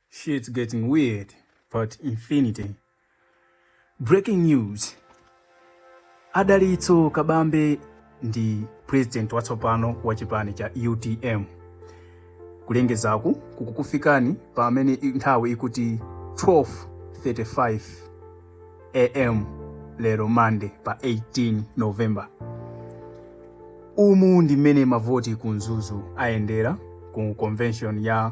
Shit's getting weird, but infinity. Breaking news. Dalitso Kabambe ndi president watsopano wa chipani cha UTM. Kulengezaku kukukufikani pamene nthawi ikuti 12:35 am lero Monday pa 18 November. Umu ndi mmene mavoti ku Mzuzu ayendera ku convention ya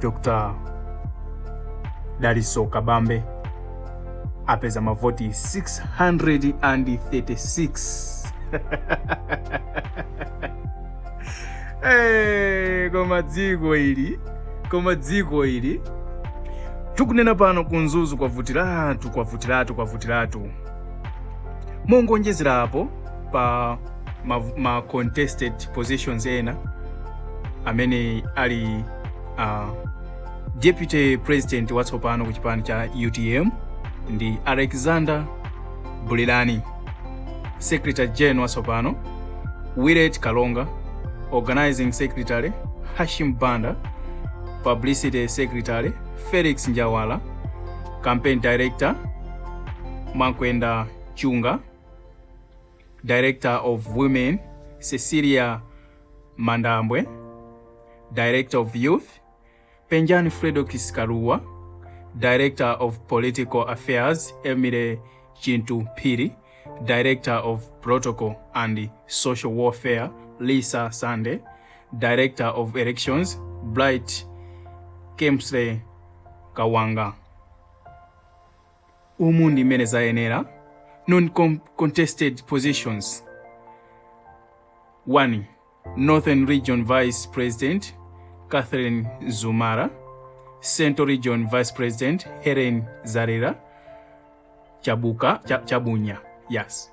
Dr. Dalitso Kabambe apeza mavoti 636 hey, eh, koma dziko ili koma dziko ili tikunena pano ku Mzuzu kwavutiratu kwavutiratu kwavutiratu mongoonjezerapo pa ma, ma contested positions ena amene ali uh, deputy president watsopano ku chipani cha utm ndi alexander bulirani secretary general watsopano willet kalonga organizing secretary hashim banda publicity secretary felix njawala campaign director makwenda chunga Director of Women, Cecilia Mandambwe, Director of Youth, Penjani Fredokis Kaluwa, Director of Political Affairs, Emile Chintu Piri, Director of Protocol and Social Warfare, Lisa Sande, Director of Elections, Bright Kemsey Kawanga. Umu ndi mmene zayenera non contested positions 1 Northern Region Vice President Catherine Zumara Central Region Vice President Helen Zarera Chabuka Ch Chabunya yes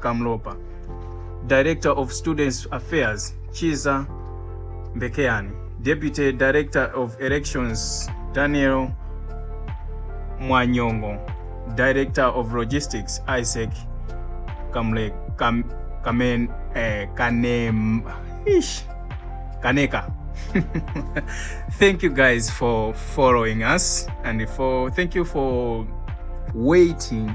Kamlopa, Director of Students Affairs Chiza Mbekeyani, Deputy Director of Elections Daniel Mwanyongo, Director of Logistics Isaac Kamle, Kam, Kamen, eh, Kanem, ish, Kaneka. thank you guys for following us and for thank you for waiting